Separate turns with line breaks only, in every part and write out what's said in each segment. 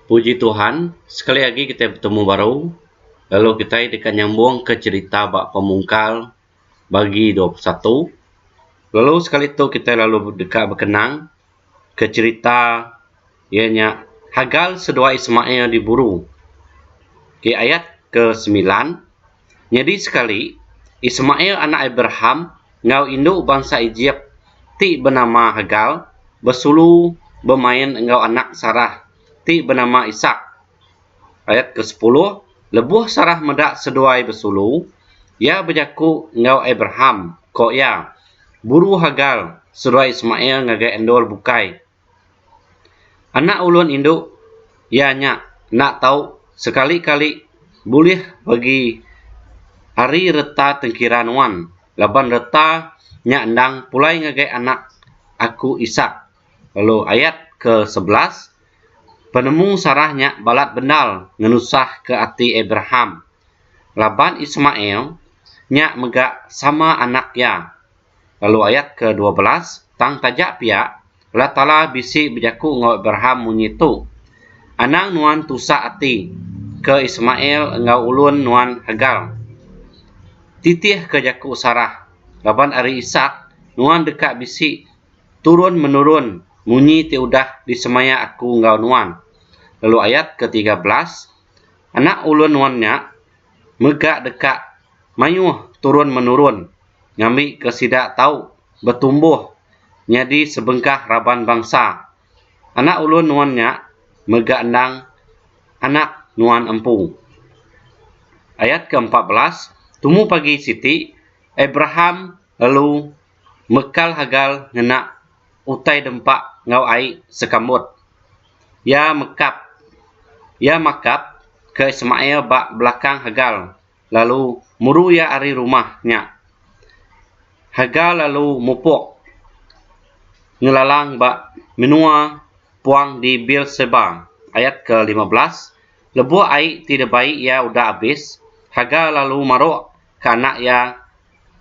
Puji Tuhan sekali agi kitai betemu baru lalu kitai deka nyambung ke cerita ba pemungkal bagi dua puluh satu lalu sekali tu kitai lalu deka bekenang ke cerita iya nya Hagar seduai Ismail diburu. Okey ayat ke semilan. Nyadi sekali, Ismail anak Abraham enggau indu bansa Ejip ti benama Hagar besulu bemain enggau anak Sarah ti benama Isak. Ayat ke sepuluh, Lebuh Sarah meda seduai besulu, iya bejaku enggau Abraham, ko iya, Buru Hagar, seduai Ismail ngagai endur bukai. Anak ulun indu iya nya enda tau sekali-kali bulih peregi ari reta tengkira nuan laban reta nya endang pulai ngagai anak aku isak lalu ayat ke sebelas penemu Sarah nya balat bendar ngenusah ke ati Abraham laban Ismail nya mega sama anak iya. lalu ayat ke dua belas, tang taja pia Allah Taala bisi bejaku enggau Abraham munyi tu, Anang nuan tusa ati ke Ismail enggau ulun nuan Hagar. Titih ke jaku Sarah, raban ari Isak nuan deka bisi turun menurun munyi ti udah disemaya aku enggau nuan. Lalu ayat ke tiga belas, Anak ulun nuan nya mega deka mayuh turun menurun. ngambika sida tau betumbuh nyadi sebengkah raban bansa. Anak ulun nuan nya mega endang anak nuan empu. Ayat ke empat belas, Tumu pagi siti, Abraham lalu mekal Hagar ngena utai dempa enggau ai sekambut. Iya mekap iya makap ke Ismail ba belakang Hagar. lalu muru iya ari rumah nya. Hagar lalu mupuk ngelalang ba menua puang di Beer-seba. Ayat ke lima belas, Lebuh ai ti dibai iya udah abis, Hagar lalu maruk ke anak iya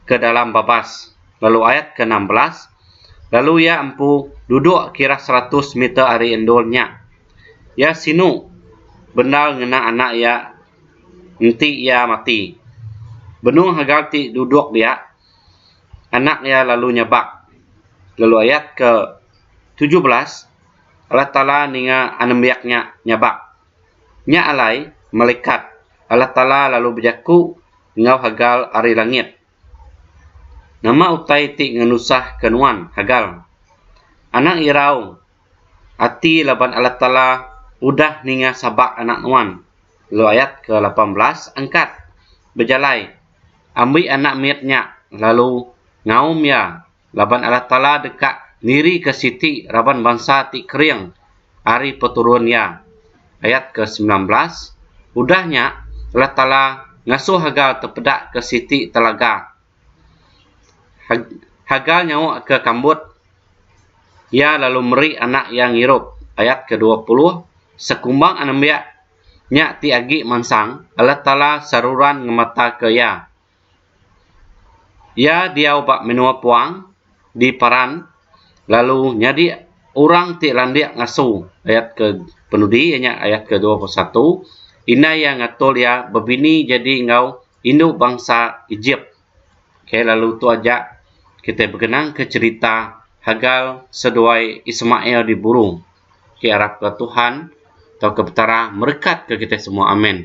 ke dalam babas. Lalu ayat ke enam belas, Lalu iya empu duduk kira seratus meter ari endur nya. Iya sinu bendar ngena anak iya Enti iya mati, benung haga ti duduk dia, anak iya lalu nyabak lalu ayat ke tujuh belas Allah Taala ninga anembiak nya nyabak. Nya alai malekat Allah Taala lalu bejaku enggau Hagar ari langit, Nama utai ti ngenusahka nuan, Hagar? Anang irau ati laban Allah Taala udah ninga sabak anak nuan. Lu ayat ke lapan belas angkat bejalai ambi anak mit nya lalu ngaum iya laban Allah Taala deka niri ke siti raban bansa ti kering ari peturun iya. Ayat ke semilan belas udah nya Allah Taala ngasuh haga tepeda ke siti telaga Haga nyawa ke kambut iya lalu meri anak iya ngirup ayat ke dua puluh sekumbang anembiak nya ti agi mansang Allah taala seruran ngemata ke iya. Iya diau ba menua puang di paran lalu nyadi orang ti landik ngasu ayat ke penudi nya ayat ke dua puluh satu indai iya ngatur iya bebini jadi enggau Indu bansa Ejip. K lalu tu aja kitai begenangka cherita Hagar seduai Ismail di buru. K arapka Tuhan tauka Petara merekatka kitai semua. Amen.